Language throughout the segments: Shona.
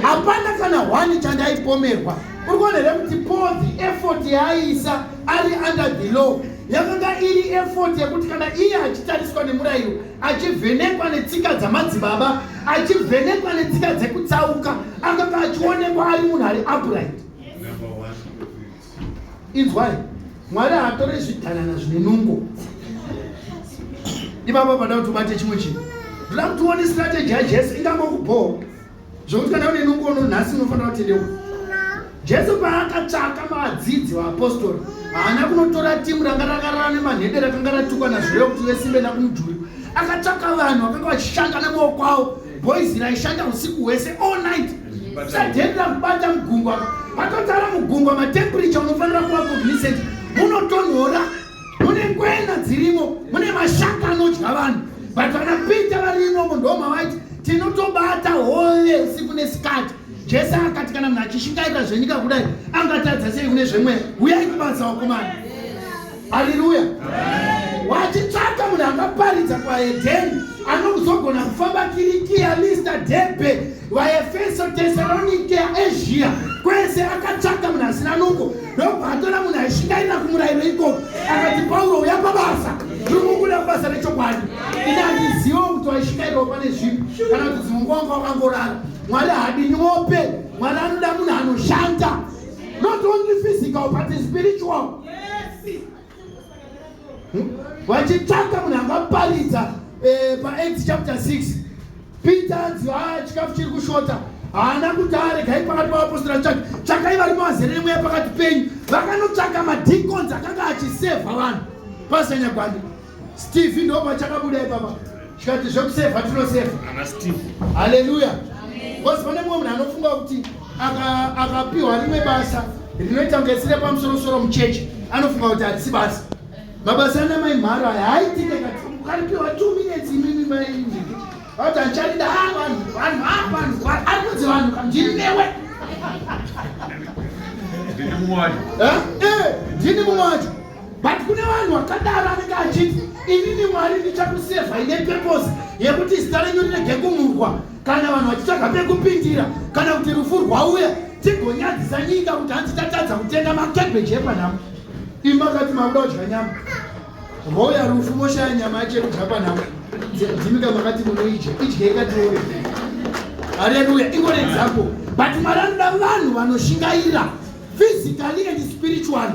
hapana kana hwani chandaipomerwa uri kuona here kuti paul the effort yaaiisa ari under the law yakanga iri effort yekuti kana iye achitariswa nemurayiro achivhenekwa netsika dzamadzibaba achivhenekwa netsika dzekutsauka akanga achionekwa ari munhu ari upright inzwai mwari haatore zvidhanana zvine nungo ipapa pada kuti ubate chimwe chinhu ndoda kuti uone strategy yajesu ingangokubhowa zvokuti kana une nungo uno nhasi unofanira kutendewa jesu paakatsvaka vadzidzi vaapostori haana kunotora timu ranga rakarara nemanhede rakanga ratukwa nazvireyo kuti vesimbe nakumudhuri akatsvaka vanhu vakanga vachishanda nemaoko avo boys raishanda usiku hwese all night sadheni rakubata mugungwa matotara mugungwa matemperature unofanira kuva cognizant munotonhora mune ngwena dzirimo mune mashaka anodya vanhu but vanapita varimo munhu womavaiti tinotobata hole usiku nesikati jesu akati kana munhu achishingaira zvenyika kudai angatadza sei kune zvemweya uyai kubasa wakomana haleluya wachitsvaka munhu akaparidza kwaedheni anozogona kufamba kirikiya lista debe vaefeso tesalonike asia kwese akatsvaka munhu asina nungo ndobva atora munhu aishingairira kumurayiro ikoko akati pauro uya pabasa ndikukuda kubasa rechokwadi ini handiziva kuti waishingairwa pane zvipi kana kuti dzimwe nguva nguva vangorara mwari hadini wope mwari anoda munhu anoshanda not only physical but spiritual hmm? vachitsvaka munhu angaparidza eh, paacts chapter 6 peter anzi haa chikafu chiri kushota haana kuti aregai pakati pavapostora tsvaki tsvakai vari mavazere nemweya pakati penyu vakanotsvaka madicons akanga achisevha vanhu pasanyagwani Steve ndopa chakabuda ipapa chikati zvekuseva tinoseva ana Steve haleluya bcause pane mumwe munhu anofunga kuti akapiwa rimwe basa rinoita kunge sire pamusorosoro muchechi anofunga kuti hatisi basa mabasa ana mai mharo aya haitike kati ukaripiwa two minutes imimi maii vati ancharida ah, vanhu vanhu ah, vanhu ari kunzi vanhu kandiri newe ndini mumwe wacho eh, eh, ndini mumwe wacho but kune vanhu vakadaro anenge achiti inini mwari ndichakusevha ine peposi yekuti zita renyu rinege kumurwa kana vanhu vachitsvaga pekupindira kana kuti rufu rwauya tigonyadzisa nyika kuti hanzi tatadza kutenga makebheji epanhamo imi makati makuda kudya nyama roya rufu moshaya nyama yacho yekudya panhamo dzimika makati munoidya idya ikatiore haleluya ingore example but mwari anoda vanhu vanoshingaira physically and spiritually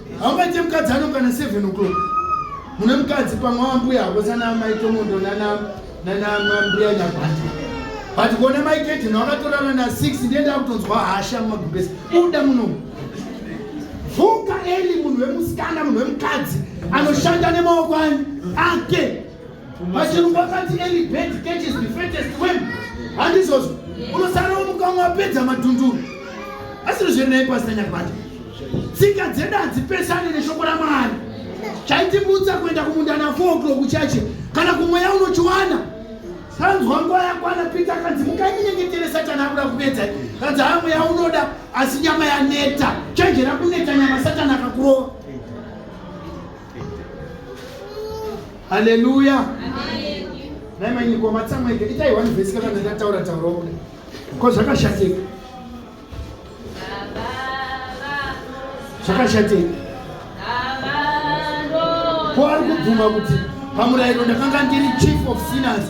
haungaite mukadzi anokana 7 o'clock mune mukadzi pamwe wambuya hako sana mai tomondo nanamambuya nyabhati but kone mai kedhina wakatorana na 6 ndiye ndakutonzwa hasha mumagumbesi uda muno vuka eli munhu wemusikana munhu wemukadzi anoshanda nemaoko ani ake Machero pakati any bird catches the fattest worm. Handizvozvo. Unosara umukamwa apedza madhunduru. Asiri zviri naye pasina nyakwacho. Tsika dzedu hadzipesane neshoko raMwari. Chaitibutsa kuenda kumunda na 4 o'clock kuchache kana kumweya unochiwana. Sanzwa nguva yakwana Peter akanzi mukainyengetere Satani akuda kupedza. Kanzi haa mweya unoda asi nyama yaneta. Chenjera kuneta nyama Satani akakurova. Haleluya. Dai manyikwa matsamweke itai one verse kana ndataura taura kuda. Ko zvakashateka. Zvakashateka. Ko ari kubvuma kuti pamurayiro ndakanga ndiri chief of sinners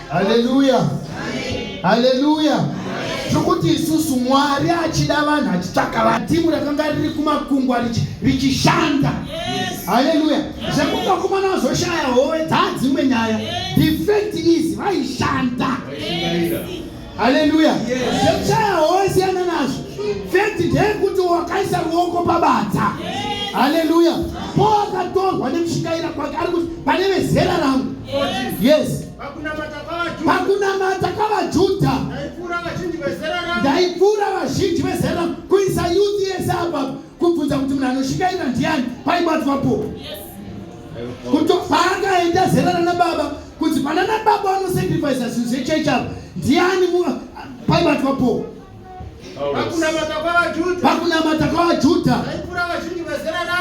haleluya haleluya zvokuti isusu mwari achida vanhu achitsvaka vanhu timu rakanga riri kumakungwa richishanda haleluya zvekuti vakomana vazoshaya howe dzaadzimwe nyaya the fact is vaishanda haleluya zvekushaya howe siyana nazvo fact ndeyekuti wakaisa ruoko pabadza haleluya po akatorwa nemushikaira kwake ari kuti pane vezera rangu yes pakunamata kwavajudha ndaipfuura vazhinji vezera kuisa yuti yese apa kubvunza kuti munhu anoshingaira ndiani paibatwapo kutopaakaenda zera rana baba kuti panana baba vanosacrifisa zvinhu zvechechi apa ndiani paibatwapo pakunamata kwavajudha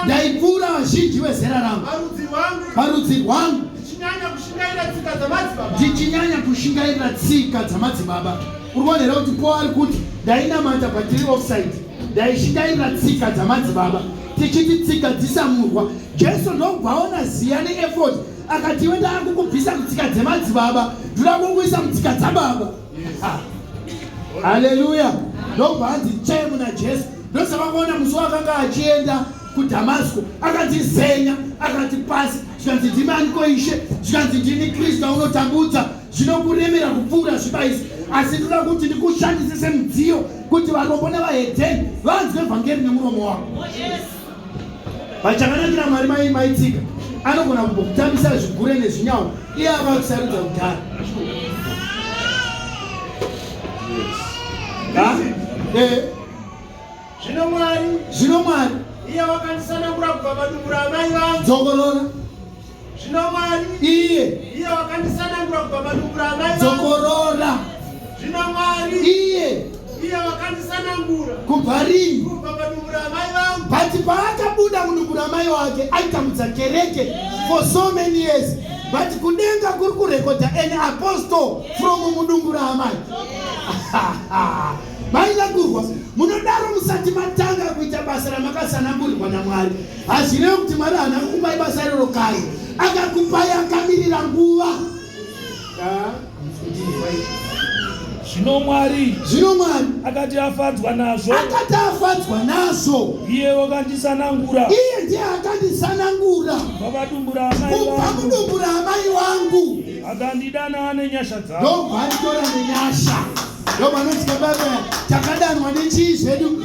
ndaipfuura vazhinji vezera rangu parudzi rwangu ndichinyanya kushingairira tsika dzamadzibaba uri kuona here kuti po ari kuti ndainamata patiri offside ndaishingairira tsika dzamadzibaba tichiti tsika dzisamurwa jesu ndobva aona ziya neefod akati iwe ndaakukubvisa kutsika dzemadzibaba ndoda kukuisa mutsika dzababa Haleluya. Ndobva hanzi chee muna Jesu. Ndosaka kuona musi wakanga achienda kuDhamasko akatizenya akati pasi zvikanzi ndimi aniko ishe zvikanzi ndini Kristu aunotambudza zvinokuremera kupfuura zviba izvi asi ndoda kuti ndikushandise semudziyo kuti varombo nevahedheni vanzwe vhangeri nemuromo wako. Oh, Vachakanakira Mwari mai maitsika anogona kumbokutambisa zvigure nezvinyawo iye ava kusarudza kudhara. Eh. Zvino Mwari, zvino Mwari iye wakandisanangura kubva padumbu ramai vangu. Dzokorora. Zvino Mwari iye iye wakandisanangura kubva padumbu raamai dzokorora. Zvino Mwari iye iye wakandisanangura kubva rini kubva padumbu raamai vangu. Bhati paakabuda mudumbu ramai wake aitambudza kereke for so many years but kudenga kuri kurekodha an apostle from mudumbu raamai maida kurwa munodaro musati matanga kuita basa ramakasanangurirwa namwari Hazvirevi kuti Mwari haana kukupa ibasa iroro kare, akakupai akamirira nguva. Zvino Mwari, zvino Mwari akati afadzwa nazvo, akati afadzwa nazvo, iye wakandisanangura, iye ndiye akandisanangura kubva mudumbu raamai wangu, akandidana nenyasha dzake, ndobva anditora nenyasha. Ndoba anoti kababa takadanwa nechii zvedu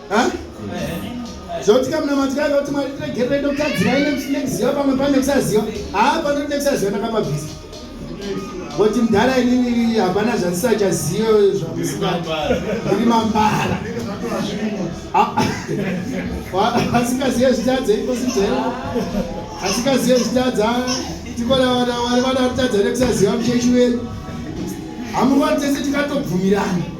zvekuti kamunamati kake kuti mwari tiregerere ndokutadzira ine nekuziva pamwe pane kusaziva haa panoti nekusaziva ndakapabvisa kuti mudhara inini hapana zvandisachazive zvamusiri mambara asikazive zvitadza ipositero asikazive zvitadza tikonawanawari vana kutadza nekusaziva muchechi wedu hamurwani tese tikatobvumirana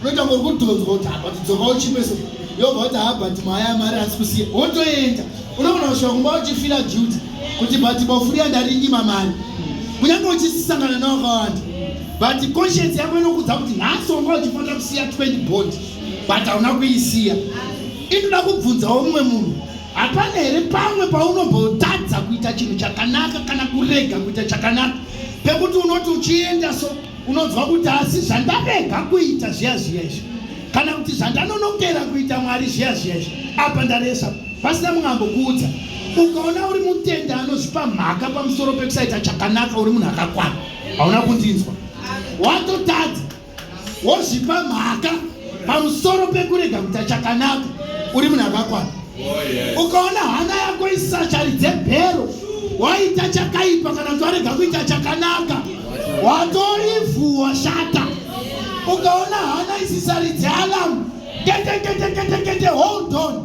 unoita ngori kudhonzwa kuti habati dzoka uchipeso yobva kuti habati maya yamari asi kusiya wotoenda unogona kusvika kumba uchifila duty kuti bati bofuriya ndarinyima mari kunyange uchisisangana newakawanda but conscience yako inokudza kuti nhasi wanga uchifanira kusiya 20 bond but hauna kuisiya inoda kubvunzawo mumwe munhu hapana here pamwe paunombotadza kuita chinhu chakanaka kana kurega kuita chakanaka pekuti unoti uchienda so unonzwa kuti asi zvandarega kuita zviya zviya izvi kana kuti zvandanonokera kuita mwari zviya zviya izvi apa ndaresa pasina munhu ambokuudza ukaona uri mutenda anozvipa mhaka pamusoro pekusaita chakanaka uri munhu akakwana hauna kundinzwa watotadza wozvipa mhaka pamusoro pekurega kuita chakanaka uri munhu akakwana oh, ukaona hana yako isachari dzebhero waita chakaipa kana kuti warega kuita chakanaka watorivhu washata ukaona hana isisaridze alamu keteketeketekete hold on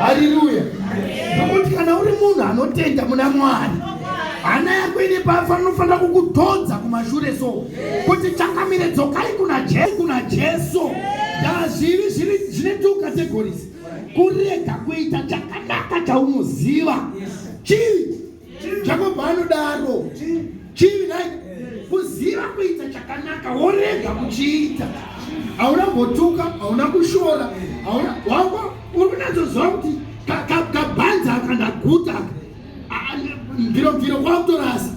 haleluya nokuti kana uri munhu anotenda muna mwari hana yako ine pafanofanira kukudhodza kumashure so kuti changamire dzokai kuna jesu kuna jesu ndazviri zvine two categories kurega kuita chakanaka chaunoziva chivi jakobva anodaro chivi nai kuziva kuita chakanaka worega kuchiita hauna mbotuka hauna kushora hauna wako uri kunatsoziva kuti kabhanzi aka ndaguta mviro mviro kwakutorasa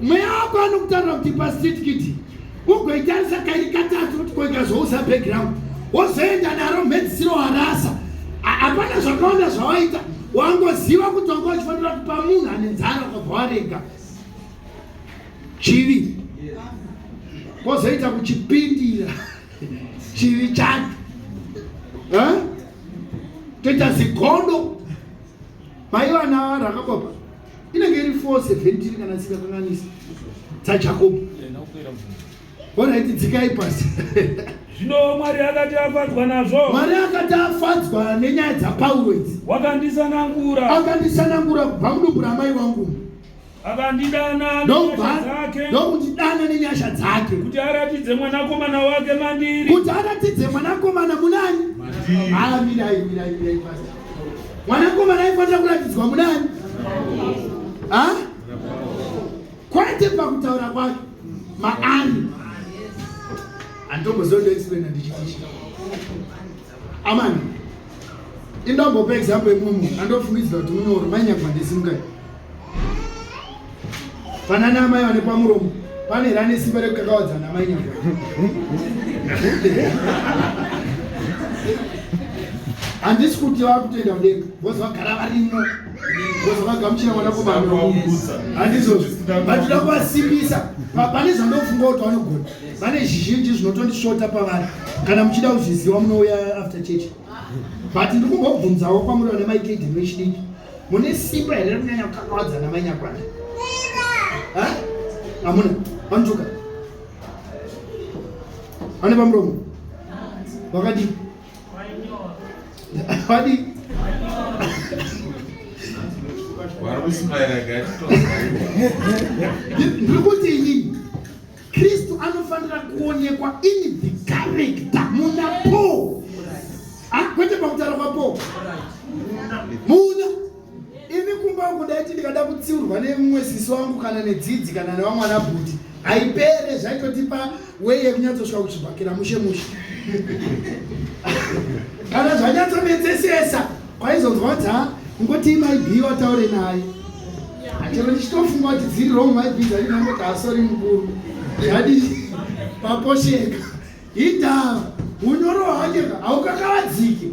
mweya wako anokutarira kuti pasitikiti ugoitarisa kairi katatu kuti koikazouza background wozoenda naro mhedzisiro warasa hapana zvakawanda zvawaita wangoziva kuti wanga uchifanira kupa munhu ane nzara ukabva warega chivi kozoita kuchipindira chivi chacho toita zigodo maiva navarakopa inenge iri 417 kana isingakanganisi dzajakobo oraiti dzikai pasi zvino mwari akati afadzwa nazvo mwari akati afadzwa nenyaya dzapauro idzi wakandisanangura akandisanangura kubva mudumbu ramai vangu akandidana dzake ndokundidana nenyasha dzake kuti aratidze mwanakomana wake mandiri kuti aratidze mwanakomana munani haa mirai mirai mirai pasi mwanakomana aifanira kuratidzwa munani kwete pakutaura kwake maani anditombozodoexplaina ndichitisha amani indombopa example yemumwe munhu andofungidzira kuti munyoro mainyagwa ndisimukati Panana amai vane pamuromo pane rane simba rekukakawadzana amai nyanga. Handisi kuti vakutenda kudenga vozi vagara varimo vozi vagamuchira mwana kubaromo handizozvo vatoda kuvasimbisa pane zvandofunga kuti vanogona vane zvizhinji zvinotondisvota pavari kana muchida kuzviziva munouya after church but ndikumbobvunzawo kwamuri vana maikedi vechidiki mune simba here rekunyanya kukakavadza namai nyakwana hamuna vanotuka vane pamuromo vakadii vadii ndiri kuti inini Kristu anofanira kuonekwa in the character muna Paul. Ah, kwete pakutaura kwa Paul. Muna ini kumba wangu ndaiti ndikada kutsiurwa nemumwe sisi wangu kana nedzidzi kana nevamwana bhuti haipere zvaitotipa weye yekunyatsosvika kuchibhakira mushe mushe kana zvanyatsomedzesesa Kwaizonzwa kuti ha ngotii mai B wataure naye. Chero ndichitofunga kuti dziri wrong mai B dzari nango kuti hasori mukuru. Zvadi paposheka. Hita unyoro hwake haukakavadzike.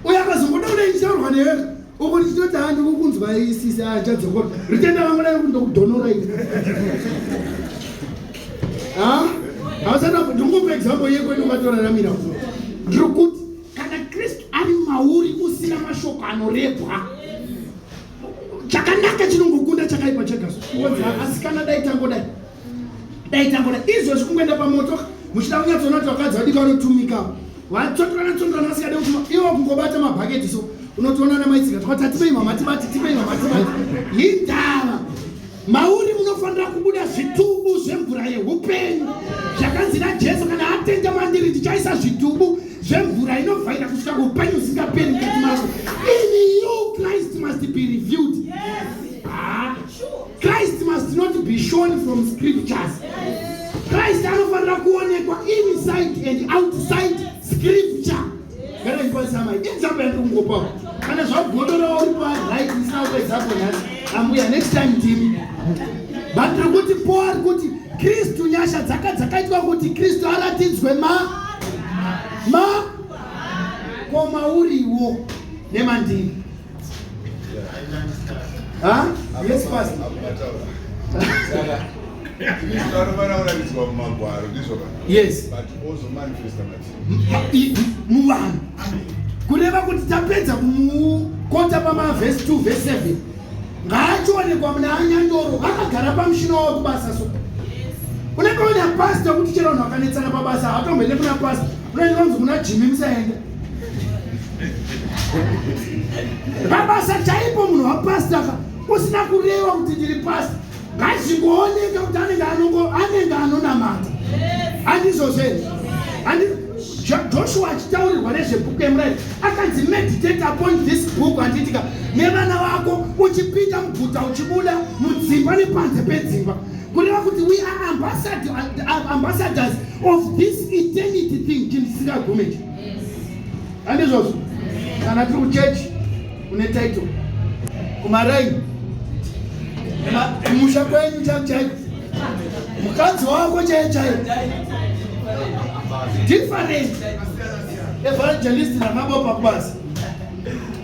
Uye akazongoda kuda ichitaurwa newe uko ndichitoti ha ndikukunzwa isisi achadzokora. Ritenda vangu dai kundokudhonora iri. Ha? Hausana kuti ndikupe example yekwedu kwatoraramira. Ndiri kuti kana kristu ari mauri usina mashoko anorebwa chakanaka chinongokunda chakaipa chega asi kana dai tangodai dai tangodai izvozvi kungoenda pamoto muchida kunyatsoona kuti vakadzi vadiki vanotumika vatsondorana tsondorana vasingade kuti ivo kungobata mabhaketi so unotoona namaitsika twati atimei mama tibati timei mama tibati hindava Mauri munofanira kubuda zvitubu zvemvura yehupenyu zvakanzi naJesu, kana atenda mandiri ndichaisa zvitubu zvemvura inovhaira kusvika kuhupenyu usingaperi mukati mako. In you Christ must be revealed. Yes. Ah. Christ must not be shown from scriptures. Yes. Christ anofanira kuonekwa inside and outside scripture. Gara ndipasa amai. Inzamba yake kungopawo. Kana zvagodora uri pa right isina kupedza hapo nhasi. Ambuya next time ndimi. But tiri kuti Paul ari kuti Kristu nyasha dzaka dzakaitwa kuti Kristu aratidzwe ma ma koma uriwo nemandiri. Huh? Yes, Pastor. anovarauranizwa mumagwaro ndizvo yes but also manifesta matiri muvanhu kureva kuti tapedza kumukota pamavhesi 2 vhesi 7 ngaationekwa muna anyandoro akagara pamushina wavo kubasa so unenge una pasta kuti chero vanhu vakanetsana pabasa hatomboende kuna pasta unaenza kunzi kuna jimi musaenda pabasa chaipo munhu wapasta ka usina kureva kuti ndiri pasta ngazvingooneka kuti anenge anongo anenge anonamata handizvozve handi joshua achitaurirwa nezvebhuku emurairo akanzi meditate upon this book handiitika nevana vako uchipinda muguta uchibuda mudzimba nepanze pedzimba kureva kuti we are ambassadors of this eternity thing chinhu chisingagume chi handizvozvo kana tiri kuchechi une title kumaraini musha kwenyu chaivo chaivo mukadzi wako chaiye chaiye different evangelist namabopa kubasa